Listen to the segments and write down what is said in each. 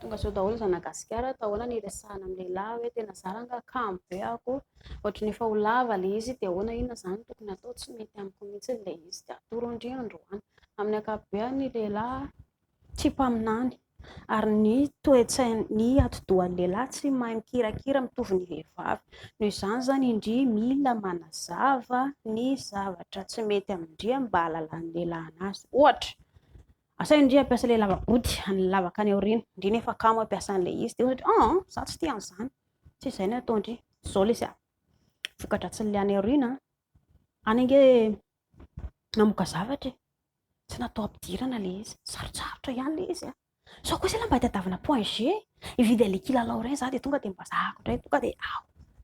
Tonga zao daholo zana gasikara atao ahoana ny resahana amin'ny lehilahy hoe tena zara nga kamo be ako ohatry ny efa ho lava le izy de ahoana inona zany tokony atao tsy mety amiko mihitsy le izy de atoro ndry androany amin'ny akapobeany ny lehilahy tsy mpaminany ary ny toetsainy ny atidohan'ny lehilahy tsy mahay mikirakira mitovy ny vehivavy no izany zany indry mila manazava ny zavatra tsy mety amindry mba halalan'ny lehilahy anazy ohatra Asaivo ndry hampiasa ilay lava-body, an'ilay lavaka any aoriana. Ndry nefa kamo hampiasa an'ilay izy. Dia ohatra hoe, an, za tsy tia an'izany. Tsy izay no atao ndry. Izao lesy a. Voka-dratsin'ilay any aoriana, any ange namoaka zavatra e. Tsy natao ampidirana ilay izy. Sarotsarotra ihany ilay izy a. Sao kosa mba hitadiavana point G, hividy an'ilay kilalao ireny za dia tonga dia mba zahako indray. Tonga dia aho,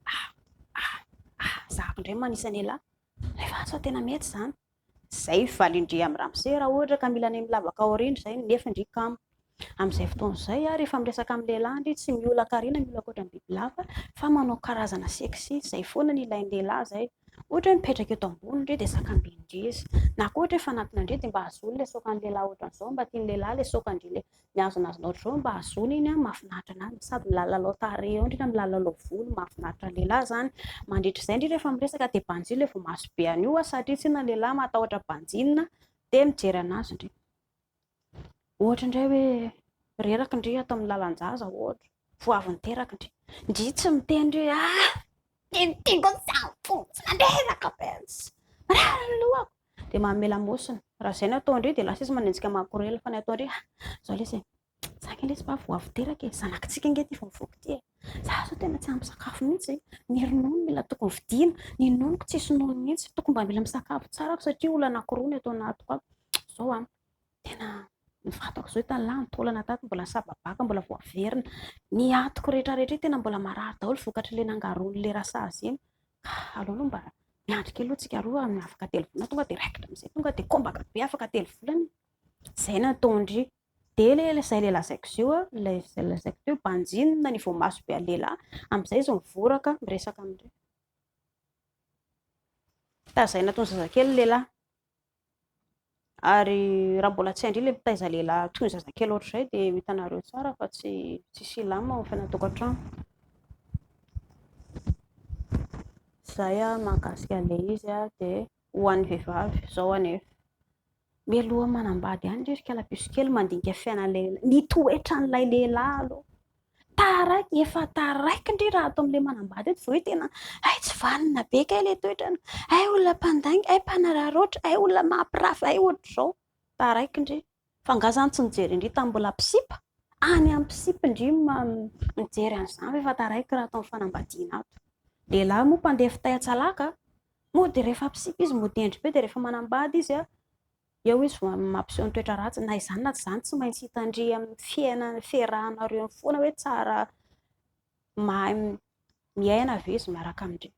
aho, aho, aho, zahako indray manisa an'elah. Rehefa ahy sao tena mety izany. Zay valin-dry am ramose raha ohatra ka mila ny milavaka aoriany zay nefy ndry kamo amizay fotoana zay a rehefa miresaka am lehilahy ndry tsy miola karena miola koatra ny bibilava fa manao karazana sexy zay foana ny ilain'ny lehilahy zay ohatra hoe mipetraka eto ambony ndry de sakambin-dry izy na koa ohatra hoe fanatona ndry de mba azony le soakan'ny lehilahy ohatran'izao mba tian'ny lehilahy le soakan-dry le ny azonazonao ohatr'izao mba azony iny an, mahafinaritra an'azy ny sady milalalao tarehy eo indrindra milalalao volo mahafinaritra ny lehilahy izany, mandritra izay indrindra rehefa miresaka dia banjio ilay voamaso be an'io an, satria tsinona ny lehilahy matahotra banjinina dia mijery an'azy ndry ohatra indray hoe reraka ndry ato amin'ny lalan-jaza ohatra, vao avy niteraka ndry, ndry tsy miteny ndry hoe ah! Tiako tiako izany fo tsy mandreraka be, marary ny lohako. dia manome lamosina. Raha izay no atao indray dia lasa izy manenjika makorela fa ny atao indray ah, izao lesy e. Za nge lesy mba vao avy teraka e, zanakitsika nge ty vao mivoaka ty e. Za zao tena tsy ampy sakafo mihitsy, ny ronono mila tokony vidiana, ny nonoko tsisy nono mihitsy, tokony mba mila misakafo tsara aho satria olona anankiroa ny ato anatiko ato. Zao an. Tena ny vatako izao efa lany taolana tato mbola sababaka mbola vao averina. Ny atiko rehetra rehetra tena mbola marary daholo vokatry le nangaroany le rasazy iny. Ka aleo aloha mba miandry kely aloha tsika roa amin'ny afaka telo volana tonga dia raikitra amin'izay tonga dia kombaka be afaka telo volana. Zay nataondry. Dia le izay le lazaiko zio a, ilay izay lazaiko teo banjinina ny voamaso be an'i lehilahy, amin'izay izy mivoraka miresaka amin'ireo. Tazaina toy ny zazakely ny lehilahy. Ary raha mbola tsy andry ilay mitaiza lehilahy toy ny zazakely ohatr'izay dia ho hitanareo tsara fa tsy tsy silamo ao fiainantokantrano. Izay ah mahakasika an'ilay izy ah dia ho an'ny vehivavy izao anefa. Mialoha manambady ihany ry kalapiso kely mandinika fiainan'ilay lehilahy, ny toetran'ilay lehilahy aloha. Taraiky, efa taraiky ndry raha ato amin'ilay manambady eto izao hoe tena hay tsy vanona be kay ilay toetrany, hay olona mpandainga, hay mpanararaotra, hay olona mampirafy, hay ohatr'izao. Taraiky ndry. Fa angaha izany tsy nijery an-dry tamin'ny mbola mpisipa? Any amin'ny mpisipa ndry mijery an'izany fa efa taraiky raha ato amin'ny fanambadiana ato. Lehilahy moa mpandeha fitay an-tsalaka, mody rehefa mpisipa izy mody hendry be dia rehefa manambady izy Eo izy vao mampiseho ny toetra ratsiny. Na izany na tsy izany, tsy maintsy hitandria amin'ny fiainana, fiarahanareo amin'ny foana hoe tsara mahay miaina ve izy miaraka amin-dry.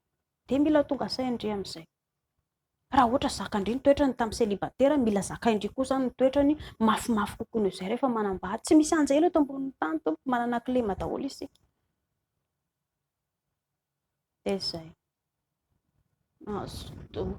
Dia mila tonga sain-dry amin'izay. Raha ohatra zakan-dry ny toetrany tamin'ny célibataire, mila zakain-dry koa izany ny toetrany mafimafy kokoa noho izay rehefa manambady. Tsy misy anjelina eto ambonin'ny tany, tompoko. Manana kilema daholo isika. Dia izay. Mazotoa.